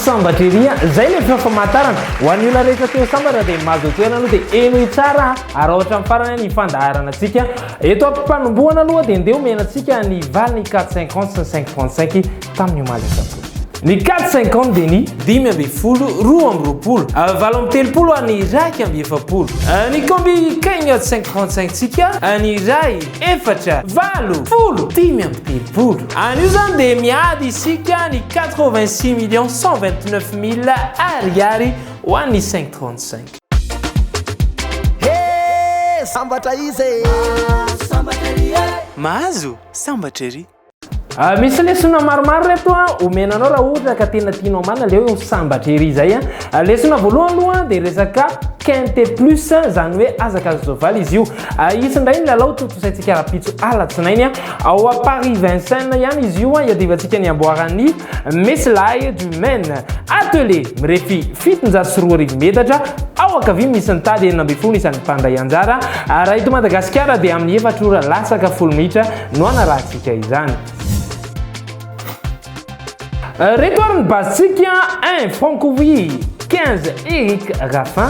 sambatra ery a zay le feo famantarana ho an'ny olona rehetra teo sambatra dia mahazo toerana aloha dia enoy tsara ary ohatra amin'ny farany ny fandaharana antsika eto am-pipanombohana aloha dia ndeha omena antsika ny valiny 4 50 sy 5 35 tamin'ny omaly asabotsy. Ny quatre cinquante dia ny dimy ambin'ny folo, roa amby roapolo, valo amby telopolo ary ny iraika amby efapolo. Ny combi cagnotte cinq trente cinq ntsika, ny iray, efatra, valo, folo, dimy amby telopolo. Anio izany dia miady isika ny quatre vingt six millions cent vingt neuf mille ariary ho an'ny cinq trente cinq. He! Sambatra izy e! Mahazo sambatra ery! Ah, misy lesona maromaro reto a omena anao raha ohatra ka tena tianao marina leo eo sambatra ery izay a ah, lesona voalohany aloha dia resaka quinte plus izany hoe azaka azo soavaly izy io ah, isy indray ny lalao totosaintsika rapitso alatsinainy a ao a paris vincent ihany izy io a iadivantsika ny amboaran'ny Misy lay du Maine atelier mirefy fitonjato sy roa arivo metatra ao ankavia misy ny tady enina ambin'ny folo isan'ny mpandray anjara, raha eto Madagasikara dia amin'ny efatra ora latsaka folo minitra no hanarahantsika izany. Reto ary ny base-tsika, un, Franco Wii, quinze, Eric Raffin.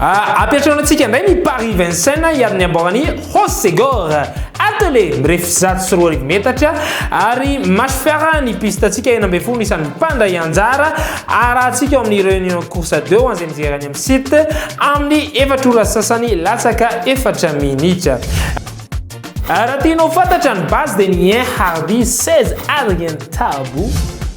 Ampiantraonantsika indray ny Paris Vincennes hiaro ny ambaoran'i Hossegor. Attelé mirefy zato sy roa arivo metatra ary match fiarahana ny pistantsika enina ambin'ny folo isan'ny mpandray anjara. Arahantsika ao amin'ny Réunion Course 2 ho an'izay mijery any amin'ny site amin'ny efatra ora sasany latsaka efatra minitra. Raha tianao fantatra ny base dia ny 1 Hardy 16 Adrien Tabo.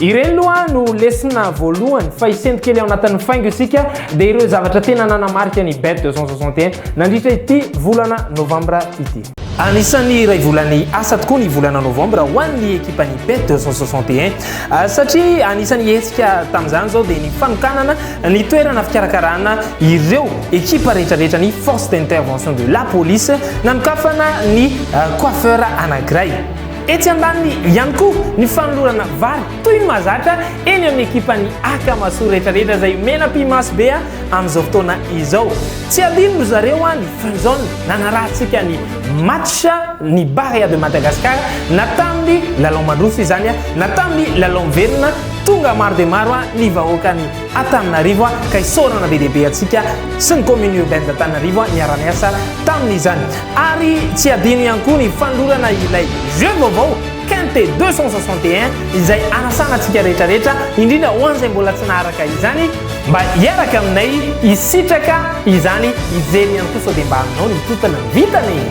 Ireny loha no lesona voalohany fa hisento kely ao anatin'ny faingo isika dia ireo zavatra tena nanamarika ny bet 261 nandritra ity volana novambra ity. Anisan'ny iray volan'ny asa tokoa ny volana novambra ho an'ny ekipan'ny bet 261 satria anisan'ny hetsika tamin'izany izao dia ny fanokanana ny toerana fikarakarana ireo ekipa rehetrarehetra ny force d'intervention de la police nanokafana ny coiffeur anankiray Etsy andaniny ihany koa ny fanolorana vary toy ny mahazatra eny amin'ny ekipan'ny Akamasoa rehetrarehetra izay omena ampy-maso be amin'izao fotoana izao. Tsy hadino ry zareo an i Fanzone nanarahantsika ny match ny Barea de Madagascar na tamin'ny lalao mandroso izany na tamin'ny lalao miverina tonga maro dia maro ny vahoakan'i Antananarivo ka isaorana be dia be antsika sy ny commune urbaine d'Antananarivo niara niasa tamin'izany ary tsy adino ihany koa ny fanolorana ilay jeu vaovao Quinte 261 izay anasana antsika rehetra rehetra indrindra ho an'izay mbola tsy naharaka izany mba hiaraka aminay hisitraka izany hijery ihany koa sao dia mba aminao ny totona ny vitana e!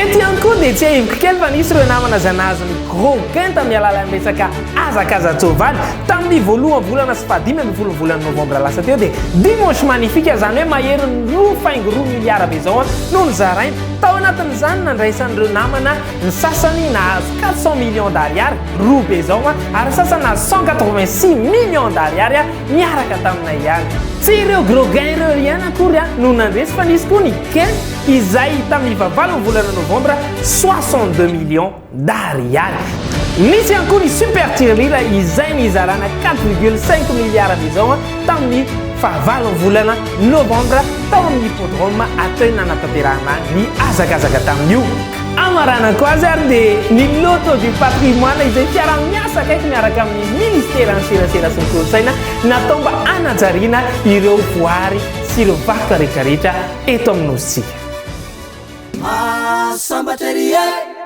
Eto ihany koa dia tsiahiviko kely fa nisy ireo namana izay nahazo ny gros Quinte amin'ny alalan'ny resaka Hazakaza-tsoavaly, tamin'ny voalohan'ny volana sy fahadimy ambin'ny folon'ny volana novambra lasa teo dia Dimanche Magnifique, izany hoe maherin'ny roa faingo roa miliara be izao, no nozaraina. Tao anatin'izany, nandraisan'ireo namana ny sasany nahazo quatre cents millions d'ariary, roa be izao, ary ny sasany nahazo cent quatre-vingt-six millions d'ariary niaraka taminay ihany. Tsy ireo gros gains ireo ry an akory no nandresy fa nisy koa ny gains izay tamin'ny fahavalon'ny volana novambra, soixante-deux millions. Dahary ihany. Nisy ihany koa ny Super Tirelira izay nizarana quatre virgule cinq milliards d'ezao tamin'ny fahavalon'ny volana Novambra tao amin'ny Hippodrome Athènes nanatanterahana ny hazakazaka tamin'io. Amaranako azy ary dia ny Loto du Patrimoine izay fiaraha-miasa akaiky miaraka amin'ny Ministeran'ny Serasera sy ny Kolontsaina natao mba hanajariana ireo voary sy ireo vakoka rehetra rehetra eto amin'ny Nosintsika. Mahasambatra ery eh!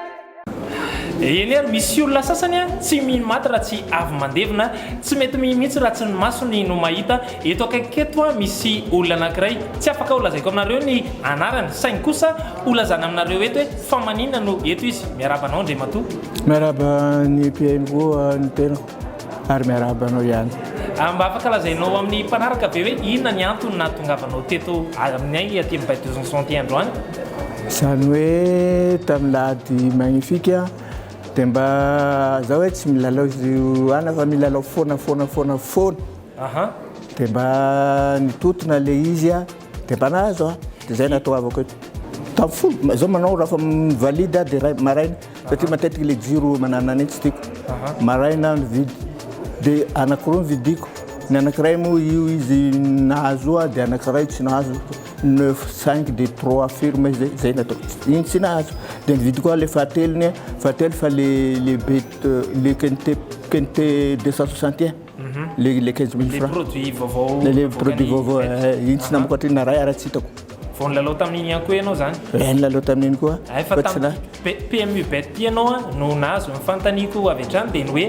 Eny ary misy olona sasany tsy mino maty raha tsy avy mandevina, tsy mety mihi mihitsy raha tsy ny masony no mahita, eto akaikiko eto misy olona anankiray tsy afaka ho lazaiko aminareo ny anarany saingy kosa ho lazana aminareo eto hoe fa maninona no eto izy, miarahaba anao Andriamatoa. Miarahaba ny mpihaino koa ny tenako. ary miarahaba anao ihany. A, mba afaka lazainao amin'ny mpanaraka ve hoe inona ny antony nahatongavanao teto aminay aty amin'ny Bay de Zonzon ity androany? Izany hoe tamin'ny lahady magnifique dia mba zao hoe tsy milalao izy ana fa milalao foana foana foana foana. Aha. Dia mba nitotona ilay izy. Dia mba nahazo aho, dia izay natoavako eto. Tamin'ny folo, izao manao raha fa mivalide aho dia maraina, satria matetika ilay jiro mananana iny tsy tiako. Maraina aho nividy, dia anankiroa no vidiko. Ny anankiray moa io izy nahazo aho, dia anankiray tsy nahazo. Neuf, cinq, dia trois firme, izay izay no ataoko. Iny tsy nahazo. Dia nividy koa aho ilay fahatelo iny, fahatelo fa ilay ilay be ilay quinte quinte deux cent soixante et un. le le quinze mille francs. Le produit vaovao. Le le produit vaovao intsy namako atry na ray ara tsy hitako. Vao nilalao tamin'iny ihany koa ianao zany. Eh nilalao tamin'iny koa. Ay fa tamin'ny PMU bet ianao no nahazo ny fanontaniako avy hatrany dia ny hoe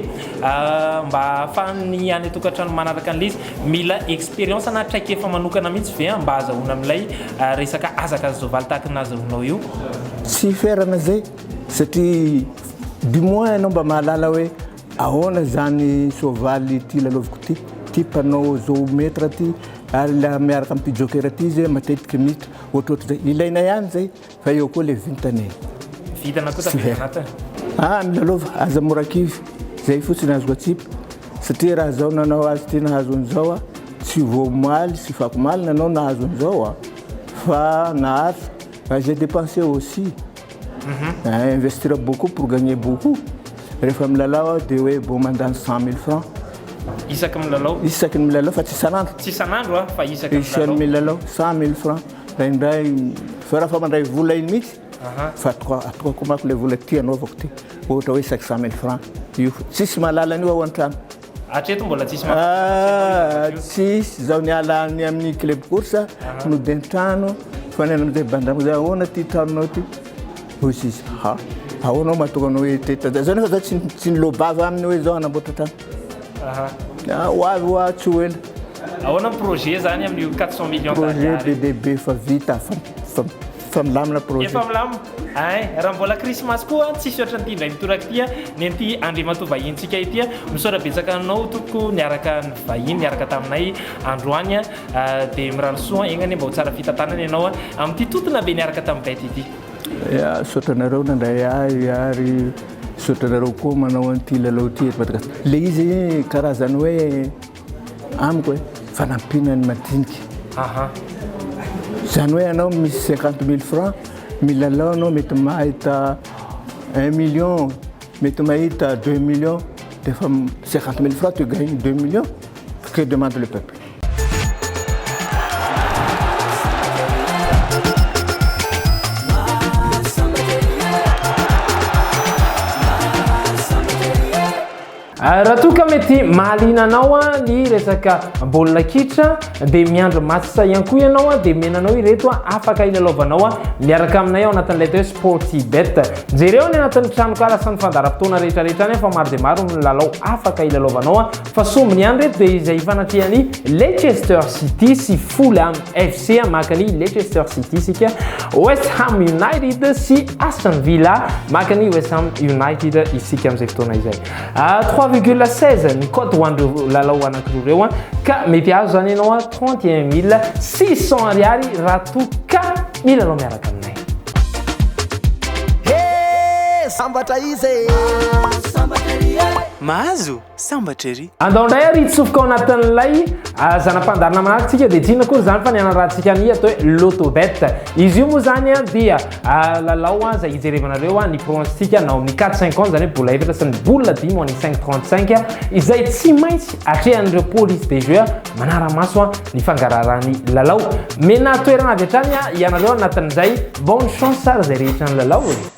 mba ahafahan'ny any an-tokantrano manaraka an'ilay izy mila expérience na traikefa manokana mihitsy ve mba hazahoana amin'ilay resaka hazakazazovaly tahaka ny nahazahoanao io. Tsy ferana izay satria du moins ianao mba mahalala hoe. Ahoana izany soavaly ity lalaoviko ity? Ity mpanao zoo maître ity ary ilay miaraka amin'ity joker ity izy eh, matetiky mita ohatrohatr'izay. Ilaina ihany izay fa eo koa ilay vintana e. Vintana koa tafiditra anatiny e. Ah, milalaova, aza mora kivy. Izay fotsiny azoko atsipy satria raha izao nanao azy ity nahazo an'izao aho, tsy vao omaly sy fako omaly nanao nahazo an'izao aho fa naharitra, j'ai dépensé aussi. Eeh investir beaucoup pour gagner beaucoup, rehefa milalao aho dia hoe bon mandany cent mille francs, Isaky ny milalao? isaky ny milalao fa tsy isan'andro, Tsy isan'andro an, fa isaky ny isan'ny milalao? milalao cent mille francs, indraindray fa raha fa mandray vola iny mihitsy Aha. fa atoka- atokako manko ilay vola ity anaovako ity, ohatra hoe isaky cent mille francs io, tsisy mahalala an'io ao an-trano. Hatreto mbola tsisy mahazo Ah, Champions League. tsisy izao niala any amin'ny club course noden-trano fa ny any amin'izay bandrama izay ahoana ity tranonao ity hoy sisa ha ahoana aho mahatonga anao hoe teto tata izao nefa za tsy tsy nilobava aminy hoe izao hanamboatra trano Aha. Ah, ho avy ho atsy ho ela Ahoana ny projet zany amin'io 400 millions projet be d'ariary? dia be fa vita fa fa Efa milamina projet. Efa milamina. Ay, raha mbola Christmas koa tsisy ohatran'ity indray mitoraka ity nen'ity Andriamatoa vahintsika ity. Misaotra betsaka anao tompoko niaraka nivahiny niaraka taminay androany dia mirary soa egna anie mba ho tsara fitantanana ianao amin'ity totona be niaraka tamin'ny bety ity. Ya, misaotra anareo nandray ahy ary misaotra anareo koa manao an'ity lalao ity eto Madagasikara. Le izy karazany hoe. amiko e, fanampiana ny madinika. Aha. Izany hoe ianao misy cinquante mille francs, milalao ianao mety mahita un million, mety mahita deux millions, dia efa cinquante mille francs tu gagnes deux millions, que demande le peuple? Raha toa ka mety mahaliana anao ny resaka baolina kitra dia miandry match sa ihany koa ianao dia omena anao ireto afaka hilalaovanao miaraka aminay ao anatin'ilay atao hoe Sportybet. Jereo any anatin'ny tranonkala sy ny fandaharam-potoana rehetra rehetra any fa maro dia maro ny lalao afaka hilalaovanao fa sombiny ihany ireto dia izay hifanatrehan'i Leicester City sy Fulham. FC maka ny Leicester City isika, West Ham United sy Aston Villa maka ny West Ham United isika amin'izay fotoana izay. 3,16 ah, ny cote ho an'ireo lalao anankiroa ireo ah. ka mety azo zany ianao 31600 ah, ariary raha toa ka milalao miaraka aminay. Sambatra izy. Sambatra izy. Mahazo. Sambatra ery. Andao indray ary hitsofoka ao anatin'ilay zana-pandaharana manafintsika dia tsy inona akory izany fa ny hanarahantsika ny atao hoe Lotobet. Izy io moa izany dia lalao izay hijerevanareo ny pronostic na ao amin'ny 4-5 ans izany hoe bola efatra sy ny bola dimy ao amin'ny 5-35 izay tsy maintsy atrehan'ireo police de jeu manara-maso ny fangaraharahan'ny lalao. Mena toerana avy hatrany ianareo anatin'izay. Bonne chance ary izay rehetra nilalao e!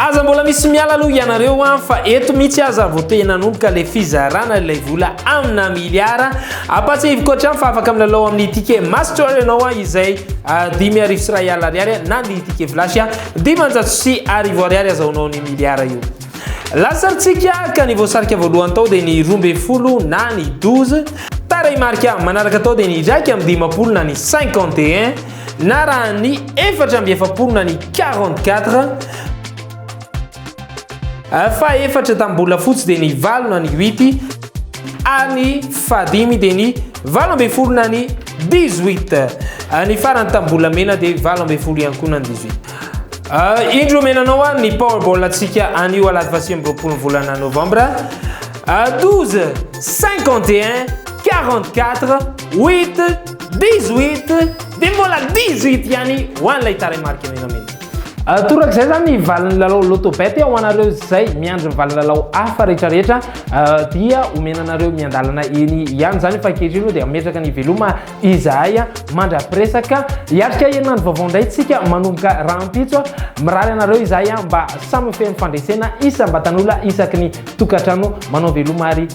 Aza mbola misy miala aloha ianareo an, fa eto mihitsy aza vao te nanomboka ilay fizarana ilay vola amina miliara. Ampahatsiahiviko hatrany fa afaka milalao amin'ny ticket master ianao an, izay ah, dimy arivo sy iray alina ariary na ny ticket flash ah, dimanjato sy arivo ariary azahoanao ny miliara io. Lasarintsika ka ny voasarika voalohany tao dia ny roa ambin'ny folo na ny douze. Tarehimarika manaraka tao dia ny iraika amby dimampolo na ny cinquante et un. Narahan'ny efatra amby efapolo na ny quarante quatre. Fa efatra tamin'ny bola fotsy dia ny valo na ny huit ary ny fahadimy dia ny valo ambin'ny folo na ny dix huit. Ny farany tamin'ny bola mena dia valo ambin'ny folo ihany koa na ny dix huit. Uh, indro menanao ary ny powerball antsika anio alahady vasi amby roapolo volana novambra uh, 12 51 44 8 18 dia mbola 18 ihany ho an'ilay tarehimarika menamena. Ah, torak'izay zany ny valin'ny lalao lotobet ho anareo izay miandry ny valinlalao hafa rehetrarehetra ah, dia omena anareo miandalana eny ihany izany fa ankehitriny moa dia ametraka ny veloma izahay ah, mandra-piresaka hiatrika herinandro vaovao indray tsika manomboka rahampitso mirary anareo izahay mba samy feno fandresena isam-batan'ola isaky ny tokantrano manao veloma ary